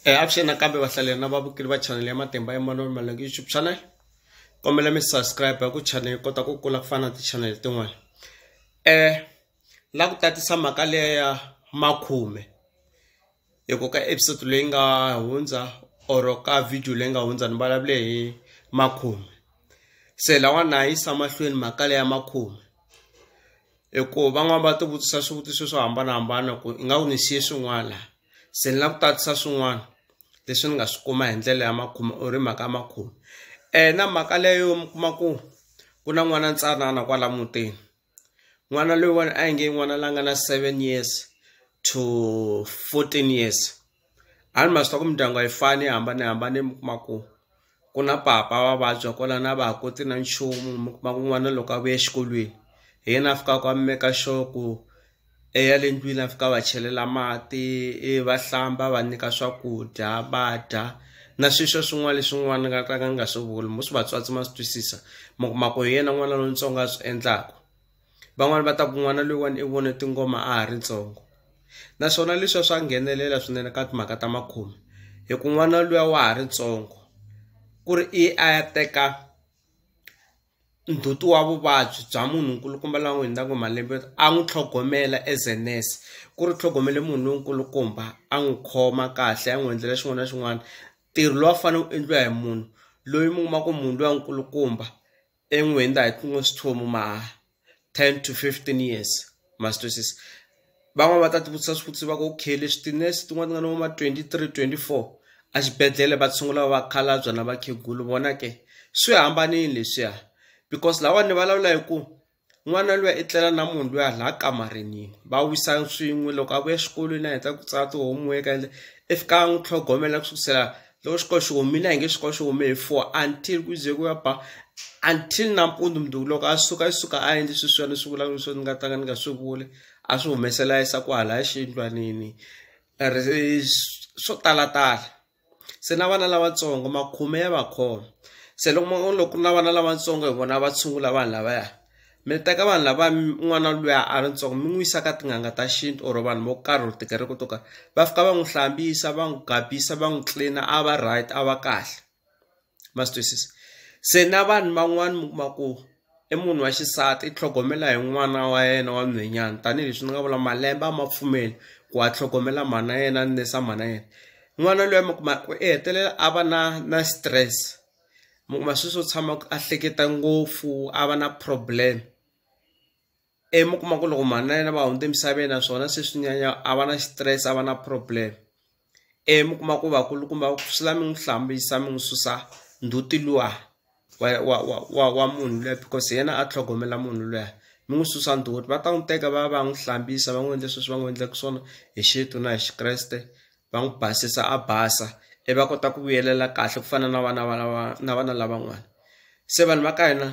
E avuxeni nakambe vahlaleri na vavukeli va chanele ya matimba ya manoro malangi youtube channel kombela mi subscribe hi ku chanele yi kota ku kula ku fana na tichanele tin'wana um la ku tatisa mhaka leya ya makhume hi ku ka episode leyi nga hundza or ka video leyi nga hundza ni vulavule hi makhume se lawa na yisa mahlweni mhaka leya makhume hi ku van'wani va tivutisa swivutiso swo hambanahambana ku i nga ku ni xiye swin'wana laha se ni la ku tatisa swin'wana leswi ni nga swi kuma hi ndlela ya makhume or hi mhaka ya makhume um na mhaka leyo mi kuma ku ku na n'wana ntsanana kwala mutini n'wana loyiwani a hi nge n'wana la nga na seven years to fourteen years. A ni ma swi tiva ku mindyangu a yi fani yi hambanahambane mi kuma ku ku na papa wa vabya kwalano a va ha koti na nchumu mi kuma ku n'wana loko a vuya exikolweni hi yena a fikaka a maker sure ku i ya le ndlwini a fika a va chelela mati i va hlamba a va nyika swakudya va dya na swi swa swin'wana leswi n'wana a nga ka a nga swi vula most vatswatsi ma swi twisisa mi kuma ku hi yena n'wana lontsongo a swi endlaku. van'wani va ta ku n'wana loyiwani i vone tingoma a ha ri ntsongo naswona leswiya swa nghenelela swinene ka timhaka ta makhomi hi ku n'wana luya wa ha ri ntsongo ku ri i a ya teka ndzhuti wa vuvabyi bya munhu nkulukumba la n'wi hundzaka hi malembe a n'wi tlhogomela as a nurse ku ri u tlhogomele munhu lonkulukumba a n'wi khoma kahle a n'wi endlela xin'wana na xin'wana ntirho lowu a wu fanele wu endliwa hi munhu loyi mi kuma ku munhu luya nkulukumba. en'we ni ta hi kuma swithomo ma ten to fifteen years ma swi twisisa van'wani va ta tivutisa swivutiso va ku okay leswi tinese tin'wani ti nga na vo ma twenty three twenty four a xibedhlele va tshungula vakhalabya na vakhegulu vona ke swi hambanile leswiya because lawani ni vulavula hi ku n'wana luya i tlela na munhu luya laha kamarini va wisa swin'we loko a vuya exikolweni a heta ku tsala ti-homework ende i fika a n'wi tlhogomela ku sukusela loko xikolo xi humile a hi nge xikolo xi hume hi four until ku ze ku ya ba until nampundzu mundzuku loko a suka i suka a endli sweswiya ni swi vulaka leswi ni nga ta ka ni nga swi vuli a swi humesela a yisa kwahalaya xiyindlwanini swo talatala. se na vana lavatsongo makhume ya va khoma se loko mo loko ku ri na vana lavatsongo hi vona va tshungula vanhu lavaya mi teka vanhu lava n'wana luya a ri ntsongo mi n'wi yisa ka tin'anga ta xintu or vanhu vo karhi or tikereke to karhi va fika va n'wi hlambisa va n'wi gabisa va n'wi clean a va right a va kahle. ma swi twisisa se na vanhu van'wani mi kuma ku i munhu wa xisati i tlhogomela hi n'wana wa yena wa nhwenyana tanihileswi ni nga vula malembe a ma pfumeli ku a tlhogomela mhana yena ni nesa mhana yena n'wana loyi mi kuma ku i hetelela a va na na stress mi kuma sweswo tshama a hleketa ngopfu a va na problem. ivi mi kuma ku loko mhani na yena va hundze emisaveni naswona se swi nyanya a va na xitirese a va na problem ivi mi kuma ku vakulukumba va ku swi la mi n'wi hlambisa mi n'wi susa ndzhuti luwa wa wa wa wa wa munhu luya because hi yena a tlhogomela munhu luya mi n'wi susa ndzhuti va ta n'wi teka va ya va ya n'wi hlambisa va n'wi endla sweswi va n'wi endlaka swona hi xintu na hi xikreste va n'wi basisa a basa i va kota ku vuyelela kahle ku fana na vana va lava na vana lavan'wana se vanhu va ka hina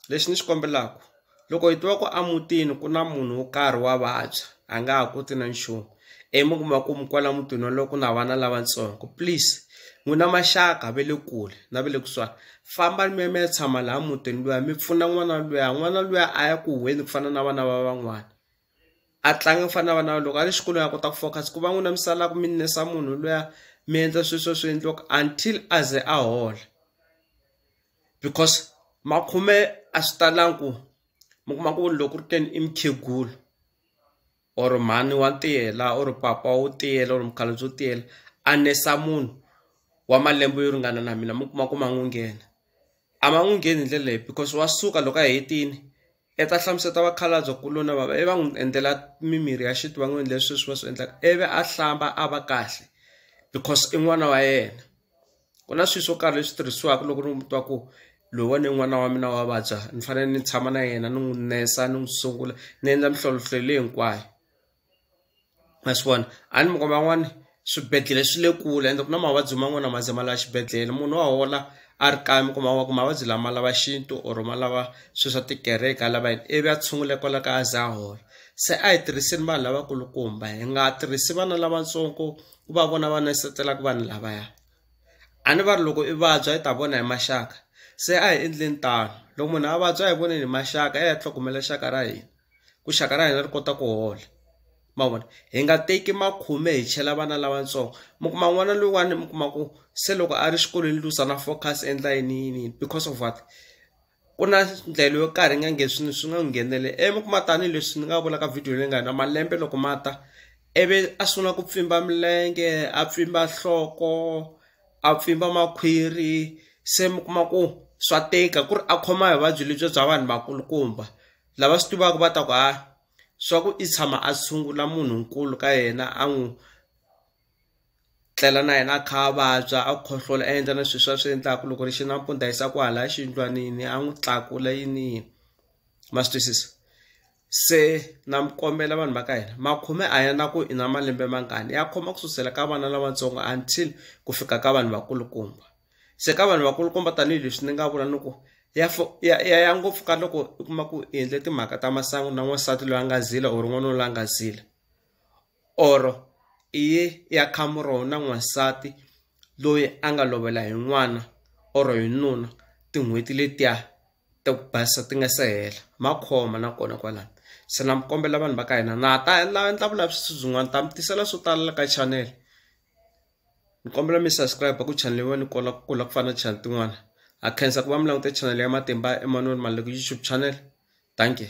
lexi ni xi kombelaka loko hi tiva ku a mutini ku na munhu wo karhi wa vabya a nga ha koti na nchumu i mi kuma ku mi kwala mutini wolowo ku na vana lavatsongo please n'wina maxaka va le kule na va le kusuhani famba mi ya mi ya tshama laha mutini luya mi pfuna n'wana luya n'wana luya a ya ku huheni ku fana na vana va van'wana a tlanga ku fana na vana loko a ri xikolweni a kota ku focus ku va n'wina mi salaku mi nesa munhu luya mi endla swi swo swi endliwaka until a ze a hola because makhume a swi talangi ku mi kuma ku loko ku ri ke ni i mukhegula or mhani wa tiyela or papa wo tiyela or mukhalabye wo tiyela a nesa munhu wa malembe yo ringana na mina mi kuma ku ma n'wi nghena a ma n'wi ngheni hi ndlela leyi because wa suka loko a hetini. I ta hlamusela ta vakhalabya kuloni va va i va n'wi endlela mimirhi ya xintu va n'wi endlela sweswi va swi endlaka ivi a hlamba a va kahle because i n'wana wa yena ku na swilo swo karhi leswi tirhisiwaka loko ni n'wi twa ku loyiwani i n'wana wa mina wa vabya ni fanele ni tshama na yena ni n'wi nurse ni n'wi sungula ni endla minhlolonhlolo leyi hinkwayo. ma swi vona a ni minkarhi man'wani swibedhlele swi le kule ende ku na mavabyi man'wani a ma ze ma lava xibedhlele munhu wa hola a ri kaya mi kuma wa ku mavabyi lama lava xintu or ma lava swi swa tikereke a lava yini ivi a tshunguleka kwala kaya a ze a hola se a hi tirhiseni vanhu lavakulukumba hi nga tirhisi vana lavatsongo ku va vona va nesetelaka vanhu lavaya a ni va ri loko i vabya i ta vona hi maxaka se a hi endleni tano loko munhu a vabya a hi voneni hi maxaka hi ya hi ya tlhogomela xaka ra hina. ku xaka ra hina ri kota ku hola mavona hi nga teki makhume hi chela vana lavatsongo mi kuma n'wana loyiwani mi kuma ku se loko a ri xikolweni luza na focus endla yini yini yini because of what ku na ndlela yo karhi nga nge swi swi nga n'wi nghenele e mi kuma tanihileswi ni nga vula ka video leyi nga hina malembe loko ma ta ivi a sungula ku pfimba milenge a pfimba nhloko a pfimba makhwiri se mi kuma ku swa tika ku ri a khoma hi vuvabyi lebyi bya vanhu vakulukumba. lava swi tivaka va ta ku ha swa ku i tshama a tshungula munhu nkulu ka yena a n'wi tlela na yena a kha a vabya a khohlola a endla na swilo swa swi endlaka loko ri xi nampundza yisa ku hala xiyindlwanini a n'wi tlakula yini yini ma swi twisisa se na mi kombela vanhu va ka hina makhume a ya na ku i na malembe mangani ya khoma ku susela ka vana lavatsongo until ku fika ka vanhu vakulukumba. se ka vanhu vakulukumba tanihileswi ni nga vula ni ku ya ya ya ya ngopfu ka loko u kuma ku i endle timhaka ta masangu na n'wansati loyi a nga zila or n'wana loyi a nga zila or i ye ya khamuraho na n'wansati loyi a nga lovela hi n'wana or hi nuna tin'hweti letiya ta ku basa ti nga se hela ma khoma nakona kwalano se na mi kombela vanhu va ka hina na ha ta la endla vulavisisi byin'wana ta mi tisela swo tala ka channel. Ni kombela mi subscribe ku channel yin'wana ni kola ku kula ku fana na channel tin'wana ha khensa ku va mi langute channel ya Matimba Emmanuel Maleku YouTube channel dankie.